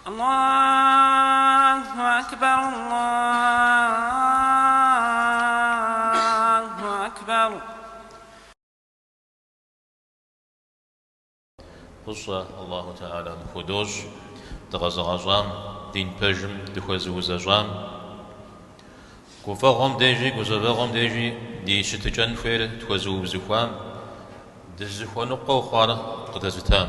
Аллаху акбар, Аллаху акбар. Фӏыщӏэ Аллаху Тхьэлэм худощӏ дыкъэзыгъэщӏам, дин пэжым дыхуэзыузэщӏам. Гуфӏэгъуэм дежи гузэвэгъуэм дежи ди щытыкӏэн хуейр тхуэзыубзыхуам, дызыхуэныкъуэу хъуар къыдэзытам.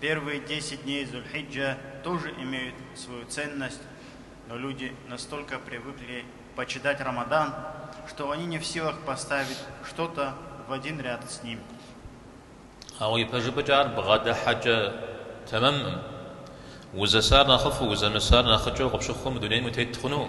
Первые десять дней Зуль-Хиджа тоже имеют свою ценность, но люди настолько привыкли почитать Рамадан, что они не в силах поставить что-то в один ряд с ним. Ауэ ипэжыпӏэкӏэ ар бгъэдыхьэкӏэ тэмэмым, узэсар нэхъыфӏу, узэмысар нэхъыкӏэу къыпщыхъуу мы дунейм утет хъуну?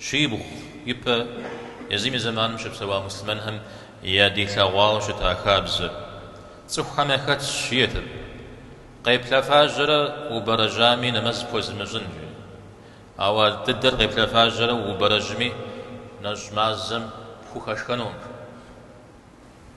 Щибгъу ипэ езым и зэманым щыпсэуа муслъымэнхэм ядилъэгъуауэ щыта хабзэр цӏыхухэм яхэтщ, жиӏэрт, къеплъэфэжьэрэ убэрэжьами нэмэз пхуэзымыщӏын, жи. Ауэ ар дыдэр къеплъэфэжьэрэ убэрэжьми нэщӏ мазэм пхухэшхэнукъым.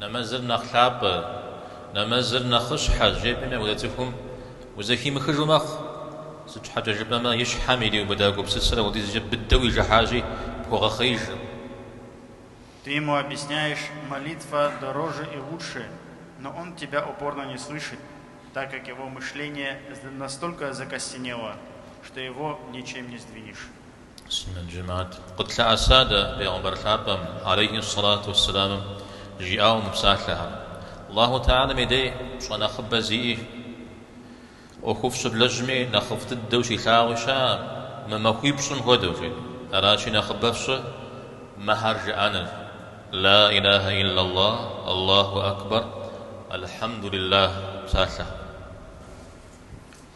Нэмэзыр нэхъ лъапӏэ, нэмэзыр нэхъыщхьэ жепӏэми апхуэдэ цӏыхум узэхимыхыжу мэхъу. Сыт щхьэкӏэ жыпӏэмэ, и щхьэм ириубыда гупсысэр апхуэдизкӏэ быдэу ижыхьащи, пхуэгъэхъеижыркъым. Ты ему объясняешь, молитва дороже и лучше, но он тебя упорно не слышит, так как его мышление настолько закостенело, что его ничем не сдвинешь. Сунэн жэмаат. Къытлъэӏэса дэ Пейгъэмбар лъапӏэм, алейхи ссалату уэссэламым, жиӏауэ мы псалъэхэр? Аллаху тхьэлэм и дей пщӏэ нэхъыбэ зиӏи, ӏуэхуфӏ щыблэжьми нэхъыфӏ дыдэу щилъагъуи щыӏэкъым мы махуипщӏым хуэдэу, жи. Аращи, нэхъыбэ фщӏы мыхэр жыӏэныр, Ла илахэ иллаллах, Аллаху акбар, Алхьэмдулиллах псалъэхэр.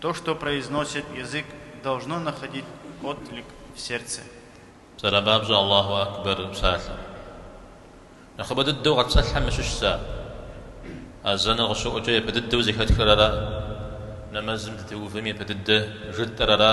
То, что произносит язык, должно находить отклик в сердце. Псалъэм папщӏэ Аллаху акбэр псалъэ. Нэхъыбэ дыдэу къэтпсэлъхэм щыщщ ар. Азэныр къыщыӏукӏэ япэ дыдэу зэхэтхэр ара? Нэмэзым дытеувэм япэ дыдэ жытӏэр ара?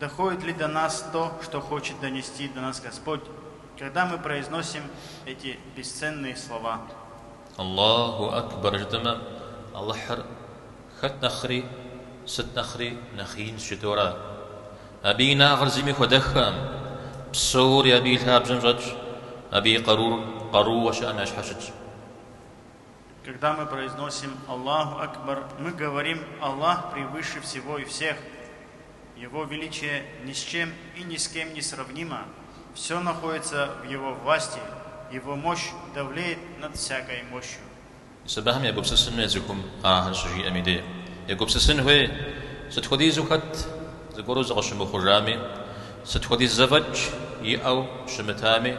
Доходит ли до нас то, что хочет донести до нас Господь, когда мы произносим эти бесценные слова? Аллаху Акбар жытӏэмэ, Алыхьыр хэт нэхъри, сыт нэхъри нэхъ инщ жытӏэу ара. Абы и инагъыр зыми хуэдэххэкъым. Псори Абы и лъабжьэм щӏэтщ, Абы и къарур къарууэ щыӏэм я щхьэ щытщ. Когда мы произносим Аллаху Акбар, мы говорим Аллах превыше всего и всех, Его величие ни с чем и ни с кем не сравнимо, всё находится в Его власти, Его мощь довлеет над всякой мощью. Мис абыхэм егупсысын хуей цӏыхум ахэр щыжиӏэм и дей егупсысын хуей, сыт хуэдизу хэт зыгуэру зыкъыщымыхъужами, сыт хуэдиз зэфӏэкӏ иӏэу щымытами,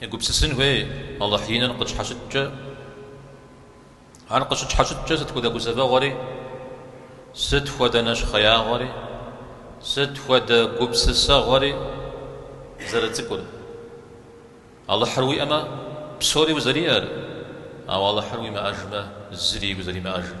Егупсысын хуей Алыхь иныр къытщхьэщыткӏэ. Ар къыщытщхьэщыткӏэ сыт хуэдэ гузэвэгъуэри, сыт хуэдэ нэщхъеягъуэри, сыт хуэдэ гупсысэгъуэри зэрыцӏыкӏур. Алыхьыр уиӏэмэ, псори узэриӏэр, ауэ Алыхьыр уимыӏэжмэ, зыри узэримыӏэжым.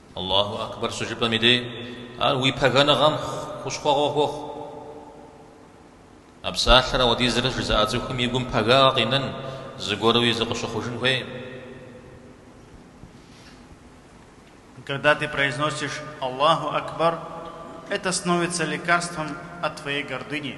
Аллаху акбар щыжыпӏэм и дей ар уи пэгэныгъэм хущхъуэгъуэ хуохъу. А псалъэр ауэдизрэ жызыӏа цӏыхум и гум пэгагъэ къинэн, зыгуэруи зыкъыщыхъужын хуейм. Когда ты произносишь Аллаху акбар, это становится лекарством от твоей гордыни.